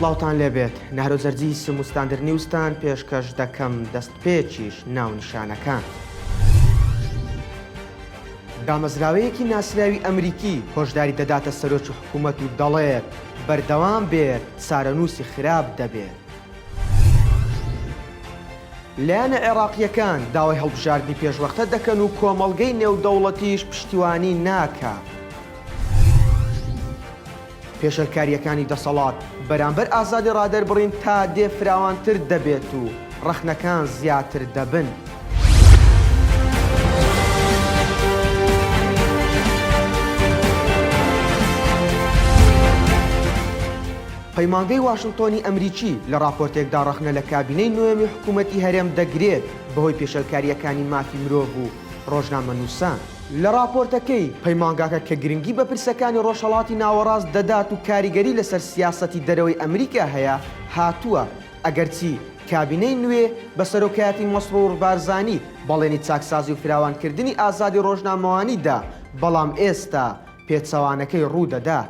سڵاوان لێبێت نارۆزەرجی سموستاندر نیوستان پێشکەش دەکەم دەست پێچیش ناونشانەکان. دامەزراوەیەکی ناسراوی ئەمریکی هۆشداری دەداتە سەرۆکی حکوومەت و دەڵێت بەردەوام بێت سارەنووسی خراپ دەبێت. لایەنە عێراقییەکان داوای هەڵبژاردنی پێشوەختە دەکەن و کۆمەڵگەی نێودەوڵەتیش پشتیوانی ناکات. پێشێلکارییەکانی دەسەڵات بەرامبەر ئازادی ڕادەربڕین تا دێ فراوانتر دەبێت و ڕەخنەکان زیاتر دەبن. پەیمانگەی واشنتۆنی ئەمریکی لە ڕاپۆرتێکدا ڕەخنە لە کابینەی نۆیەمی حکوومەتی هەرێم دەگرێت بەهۆی پێشێلکارییەکانی مافی مرۆڤ و ڕۆژنامەنووسان. لە ڕاپۆرتەکەی پەیمانگاکە کە گرنگی بە پرسەکانی ڕۆژهەڵاتی ناوەڕاست دەدات و کاریگەری لەسەر سیاسەتی دەرەوەی ئەمریکا هەیە هاتووە، ئەگەرچی کابینەی نوێ بە سەرۆکایەتی مەسڕوڕ بارزانی بەڵێنی چاکسازی و فراوانکردنی ئازادی ڕۆژنامەوانی دا، بەڵام ئێستا پێچەوانەکەی ڕوو دەدات.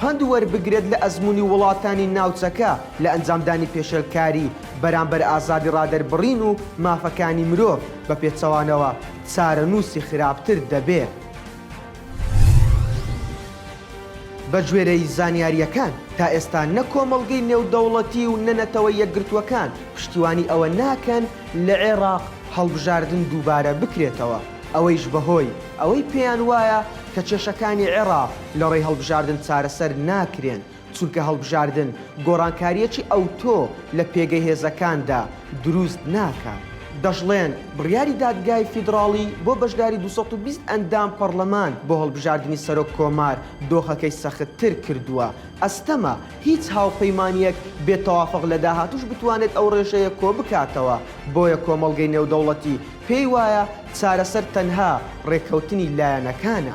پەند وەربگرێت لە ئەزموونی وڵاتانی ناوچەکە لە ئەنجامدانی پێشێلکاری بەرامبەر ئازادی ڕادەربڕین و مافەکانی مرۆڤ، بەپێچەوانەوە چارەنووسی خراپتر دەبێت. بەگوێرەی زانیارییەکان، تا ئێستا نە کۆمەڵگەی نێودەوڵەتی و نە نەتەوە یەکگرتووەکان پشتیوانی ئەوە ناکەن لە عێراق هەڵبژاردن دووبارە بکرێتەوە، ئەوەیش بەهۆی ئەوەی پێیان وایە کە کێشەکانی عێراق لە ڕێی هەڵبژاردن چارەسەر ناکرێن، چونکە هەڵبژاردن گۆڕانکارییەکی ئەوتۆ لە پێگەی هێزەکاندا دروست ناکات. دەشڵێن، بڕیاری دادگای فیدڕاڵی بۆ بەشداری دوو سەد و بیست ئەندام پەڕڵەمان بۆ هەڵبژاردنی سەرۆک کۆمار دۆخەکەی سەختتر کردووە، ئەستەمە هیچ هاوپەیمانییەک بێ تەوافق لە داهاتووش بتوانێت ئەو ڕێژەیە کۆبکاتەوە، بۆیە کۆمەڵگەی نێودەوڵەتی پێی وایە چارەسەر تەنها ڕێککەوتنی لایەنەکانە.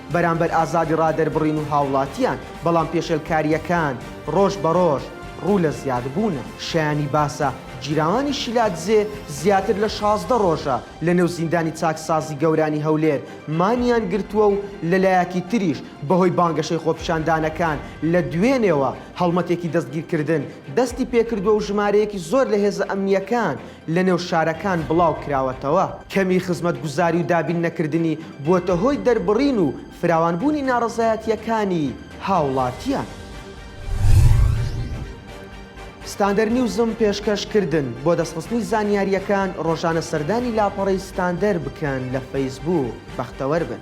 بەرامبەر ئازادی ڕادەربڕین و هاوڵاتیان، بەڵام پێشێلکارییەکان ڕۆژ بە ڕۆژ ڕوو لە زیادبوونە. شایانی باسە گیراوانی شیلادزێ زیاتر لە شازدە ڕۆژە لە نێو زیندانی چاکسازی گەورانی هەولێر مانیان گرتووە و لە لایەکی تریش بە هۆی بانگەشەی خۆپیشاندانەکان لە دوێنێوە هەڵمەتێکی دەستگیرکردن دەستی پێکردووە و ژمارەیەکی زۆر لە هێزە ئەمنییەکان لەنێو شارەکان بڵاو کراوەتەوە. کەمی خزمەتگوزاری و دابین نەکردنی بووەتە هۆی دەربڕین و فراوان بوونی ناڕەزایەتییەکانی هاوڵاتیان. ستاندەر نیوزم پێشکەش کردن، بۆ دەستخستنی زانیارییەکان ڕۆژانە سەردانی لاپەڕەی ستاندەر بکەن لە فەیسبووک، بەختەوەر بن.